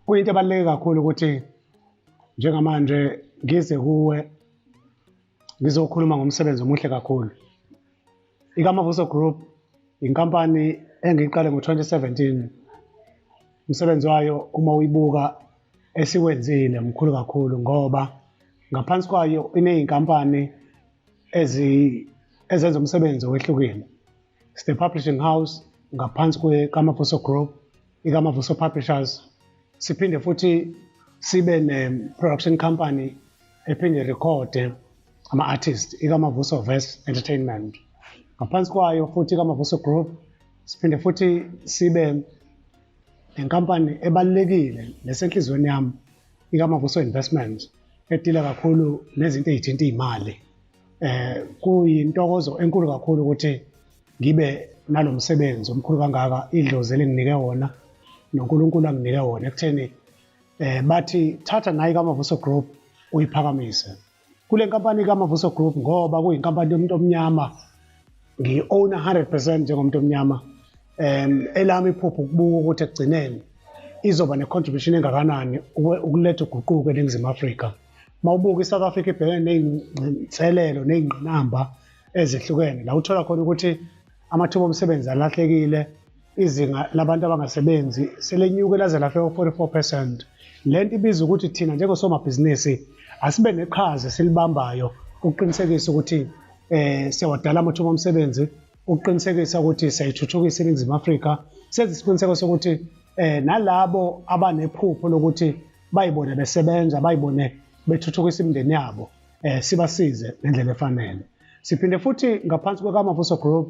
kuyinto ebaluleke kakhulu ukuthi njengamanje ngize kuwe ngizokhuluma ngomsebenzi omuhle kakhulu IKamavuso Group yinkampani engiyiqale ngo-2017. Umsebenzi wayo uma uyibuka esiwenzile mkhulu kakhulu ngoba ngaphansi kwayo iney'nkampani ezenza umsebenzi owehlukile. It's the publishing house ngaphansi kweKamavuso Group ikaMavuso Publishers siphinde futhi sibe ne-production company ephinde rekhode ama-artist ikaMavuso Verse Entertainment ngaphansi kwayo futhi ikaMavuso Group siphinde futhi sibe nenkampani ebalulekile nesenhliziyweni yami ikaMavuso Investment edila kakhulu nezinto ezithinta imali eh kuyintokozo enkulu kakhulu ukuthi ngibe nalomsebenzi omkhulu kangaka idlozi elinginike wona noNkulunkulu anginike wona ekutheni eh bathi thatha nayi kaMavuso Group uyiphakamise kule nkampani kaMavuso Group ngoba kuyinkampani yomuntu omnyama ngi-own 100% njengomuntu omnyama um elami iphupho ukubuka ukuthi ekugcineni izoba ne-contribution engakanani ukuletha uguquko eningizimu afrika uma ubuka i-south africa ibhekene ney'nselelo ney'ngqinamba ezehlukene la uthola khona ukuthi amathuba omsebenzi alahlekile izinga labantu abangasebenzi selenyuke laze lafika u-44 percent le nto ibiza ukuthi thina njengosomabhizinisi asibe neqhaza esilibambayo ukuqinisekisa ukuthi um siyawadala amathuba omsebenzi ukuqinisekisa ukuthi siyayithuthukisa iningizimu afrika senze isiqiniseko sokuthi um nalabo abanephupho lokuthi bayibone besebenza bayibone bethuthukisa imindeni yabo eh sibasize ngendlela efanele siphinde futhi ngaphansi kwekamavuso group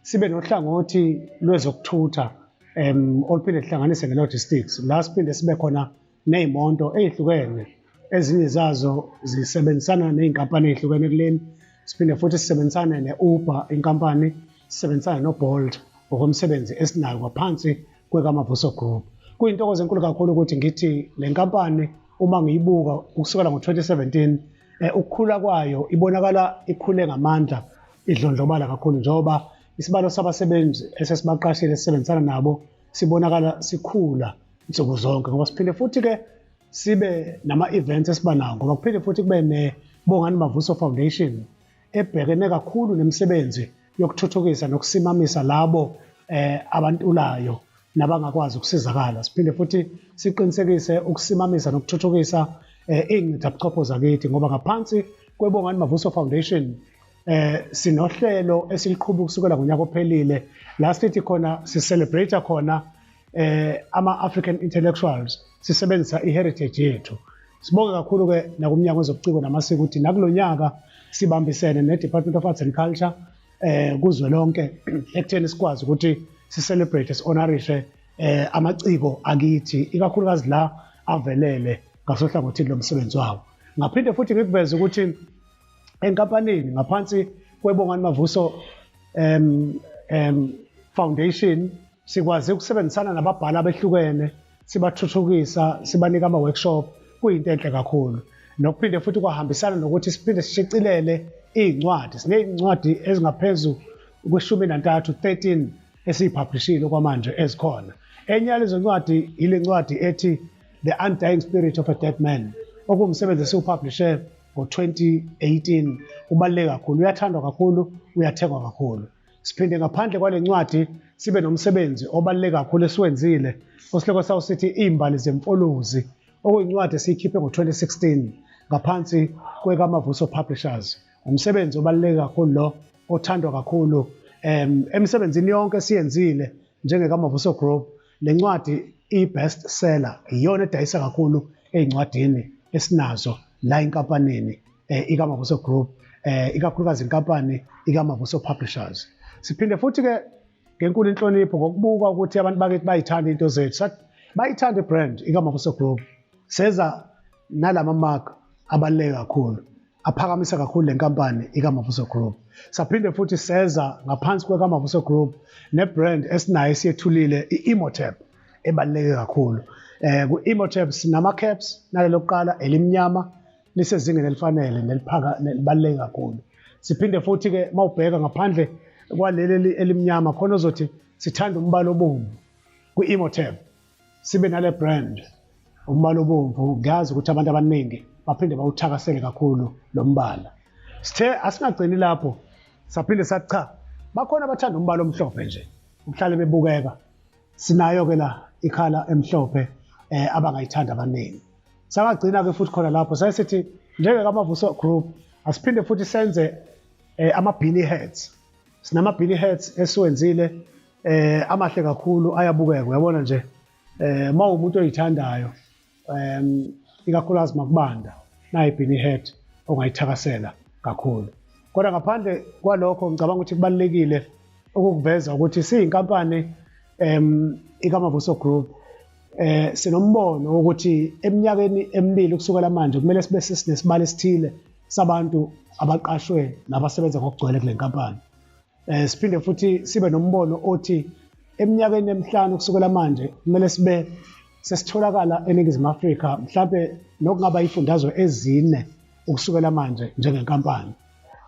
sibe nohlangothi lwezokuthutha um oluphinde lihlanganise nge-logistics la siphinde sibe khona ney'monto ey'hlukene ezinye zazo zisebenzisana ney'nkampani ey'hlukene kuleni siphinde futhi sisebenzisane ne-uber inkampani sisebenzisane nobolt ngokomsebenzi esinayo ngaphansi kwekaMavuso Group. Kuyintokozo enkulu kakhulu ukuthi ngithi le nkampani uma ngiyibuka ukusukela ngo-2017 eh, ukukhula kwayo ibonakala ikhule ngamandla idlondlobala kakhulu njengoba isibalo sabasebenzi esesibaqashile sisebenzisana nabo sibonakala sikhula nsuku zonke ngoba siphinde futhi-ke sibe nama-events esiba nawo ngoba kuphinde futhi kube ne-bongani mavuso foundation ebhekene kakhulu nemisebenzi yokuthuthukisa nokusimamisa labo eh, abantulayo nabangakwazi ukusizakala siphinde futhi siqinisekise ukusimamisa nokuthuthukisa eh, iy'ncithabuchopho zakithi ngoba ngaphansi kwebongani mavuso foundation eh sinohlelo esiliqhuba kusukela ngonyaka ophelile la sithi khona sicelebrate khona eh ama-african intellectuals sisebenzisa i-heritage yethu sibonge kakhulu-ke nakumnyango wezobuciko namasiko ukuthi nakulo nyaka sibambisene ne-department of arts and culture eh kuzwelonke ekutheni sikwazi ukuthi sicelebrate si-honorishe eh amaciko akithi ikakhulukazi la avelele ngasohlangothini lomsebenzi wawo ngaphinde futhi ngikuveze ukuthi enkampanini ngaphansi kwebongani mavuso um um foundation Sikwaze ukusebenzisana nababhali abehlukene sibathuthukisa sibanika ama-workshop kuyinto enhle kakhulu nokuphinde futhi kwahambisana nokuthi siphinde sishicilele iy'ncwadi siney'ncwadi ezingaphezu kweshumi nantathu 13 esiyiphablishile okwamanje ezikhona enye yalezo ncwadi yile ncwadi ethi the undying spirit of a dead man okuwumsebenzi esiwupublishe ngo-2018 ubaluleke kakhulu uyathandwa kakhulu uyathengwa kakhulu Siphinde ngaphandle kwale ncwadi sibe nomsebenzi obaluleke kakhulu esiwenzile osihloko sawo sithi Iimbali Zemfolozi okuyincwadi esiyikhiphe ngo-2016 ngaphansi kwekaMavuso Publishers. Umsebenzi obaluleke kakhulu lo othandwa kakhulu um emisebenzini yonke esiyenzile njengekaMavuso Group Le ncwadi i-best seller iyona edayisa kakhulu ey'ncwadini esinazo la enkampanini eh, ikamabuso group eh, ikakhulukazi inkampani ikamabuso publishers siphinde futhi-ke ngenkulu inhlonipho ngokubuka ukuthi abantu bakithi bayithanda into zethu bayithanda ibrand ikamabuso group seza nalama mark abaluleke kakhulu aphakamisa kakhulu le nkampani ikamavuso group saphinde futhi seza ngaphansi kwekamavuso group nebrand esinayo esiyethulile i-emotep ebaluleke kakhulu um ku-emotep sinama-caps nale lokuqala elimnyama lisezingeni elifanele nelibaluleke kakhulu siphinde futhi-ke uma ubheka ngaphandle kwaleli elimnyama khona ozothi sithanda umbala obomvu kwi-emotep sibe nale brand umbala obomvu ngiyazi ukuthi abantu abaningi baphinde bawuthakasele kakhulu lo mbala sithe asingagcini lapho saphinde sathi cha bakhona abathanda umbala omhlophe nje uhlale bebukeka sinayo-ke la ikhala emhlophe um abangayithanda abaningi sangagcina-ke futhi khona lapho saye sithi njengekamavuso group asiphinde futhi senze um ama-billy heads Sinama big hats esiwenzile eh amahle kakhulu ayabukeka uyabona nje eh uma umuntu oyithandayo um ikakhulukazi makubanda nayi bini head ongayithakasela kakhulu kodwa ngaphandle kwalokho ngicabanga ukuthi kubalekile ukukuveza ukuthi siyinkampani um ikamavuso group eh sinombono ukuthi eminyakeni emibili kusukela manje kumele sibe sesinesibalo esithile sabantu abaqashwe nabasebenza ngokugcwele kule nkampani eh siphinde futhi sibe nombono othi eminyakeni emihlanu kusukela manje kumele sibe sesitholakala eningizimu Afrika mhlawumbe nokungaba ifundazwe ezine ukusukela manje njengenkampani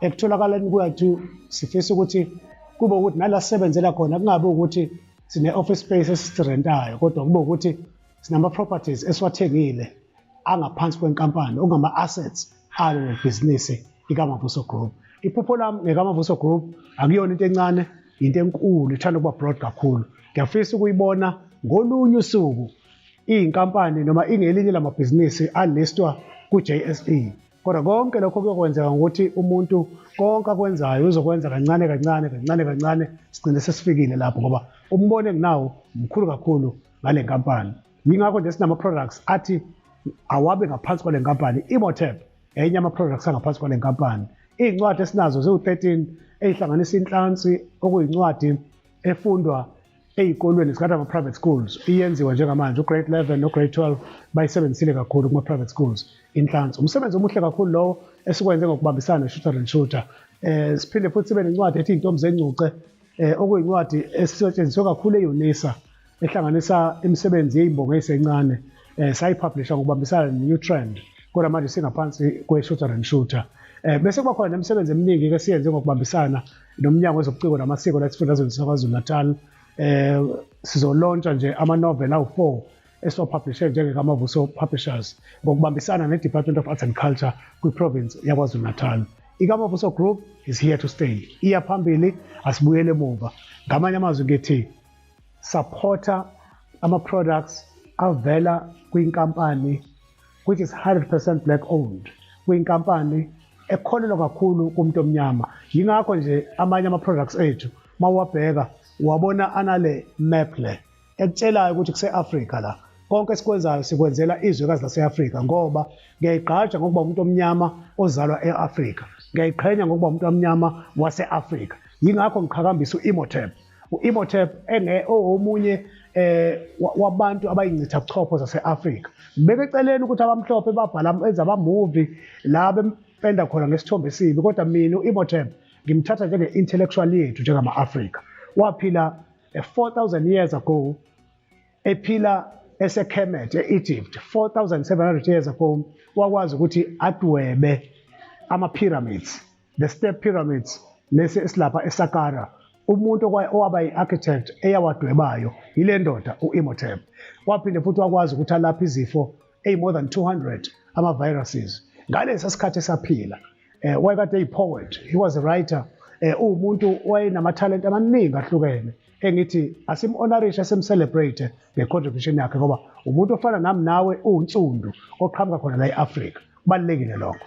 ekutholakaleni kwethu sifisa ukuthi kube ukuthi nala sisebenzela khona kungabe ukuthi sine-office space esisirentayo kodwa kube ukuthi sinama-properties esiwathengile angaphansi kwenkampani okungama-assets alo lebhizinisi ikamavuso group iphupho lami ngekamavuso group akuyona into encane yinto enkulu ithanda ukuba broad kakhulu ngiyafisa ukuyibona ngolunye usuku iyinkampani noma ingelinye lamabhizinisi alistwa ku-jse Kodwa konke lokho kuyokwenzeka ngokuthi umuntu konke akwenzayo uzokwenza kancane kancane kancane kancane sigcine sesifikile lapho ngoba umbono enginawo mkhulu kakhulu ngale nkampani. Yingakho nje sinama-products athi awabe ngaphansi kwale nkampani imotep enye ama-products angaphansi kwale nkampani iy'ncwadi esinazo ziwu-13 eyihlanganisa inhlansi okuyincwadi efundwa eyikolweni singathi ama-private schools iyenziwa njengamanje ugrade 11 nograde 12 bayisebenzisile kakhulu kuma-private schools inhlansi umsebenzi omuhle kakhulu lowo esikwenze ngokubambisana ne-shooter and shooter um siphinde futhi sibe nencwadi ethi iy'ntombi zengcuce um okuyincwadi esisetshenziswe kakhulu eyunisa ehlanganisa imisebenzi yeyimbongo eyisencane um eh, sayipublisha ngokubambisana ne-new trend kodwa manje singaphansi kwe-shooter and shooter um bese kuba khona nemisebenzi eminingi-ke siyenze ngokubambisana nomnyango wezobuciko namasiko la esifundazweni sakwazulu-natal eh sizolontsha nje ama-novel awu-four esiwapublishe njengekamavuso publishers ngokubambisana ne-department of arts and culture kwiprovince yakwazulu-natal ikamavuso group is here to stay iya phambili asibuyele emuva ngamanye amazwi ngithi supporter ama-products avela kwinkampani which is 100% black owned kuyinkampani ekholelwa kakhulu kumuntu omnyama yingakho nje amanye ama-products ethu uma uwabheka uwabona anale map le ekutshelayo ukuthi kuse-afrika la konke esikwenzayo sikwenzela izwekazi lase-afrika ngoba ngiyayigqaja ngokuba umuntu omnyama ozalwa e-afrika ngiyayiqhenya ngokuba umuntu omnyama wase-afrika yingakho ngiqhakambisa u-imotep U-Imhotep owomunye eh wabantu abayincitha buchopho zase-Afrika beke eceleni ukuthi abamhlophe babhala enza ama-movie la bempenda khona ngesithombe esibi kodwa mina u-Imhotep ngimthatha njenge-intellectual yethu njengama-Afrika waphila 4000 eh, years ago ephila eseKhemet e-Egypt 4700 years ago wakwazi ukuthi adwebe ama-pyramids The Step Pyramids, lesi esilapha eSaqqara, umuntu owaba yi-architect eyawadwebayo yile ndoda u-Imhotep. Waphinde futhi wakwazi ukuthi alaphe izifo eyi-more than 200 ama-viruses ngalesa sikhathi esaphila. Eh, wayekade eyi-poet, he was a writer, eh, uwumuntu wayenamathalente amaningi ahlukene. engithi asimhonorishe simcelebrate ngecontribution yakhe ngoba umuntu ofana nami nawe uwunsundu oqhamuka khona la e-afrika kubalulekile lokho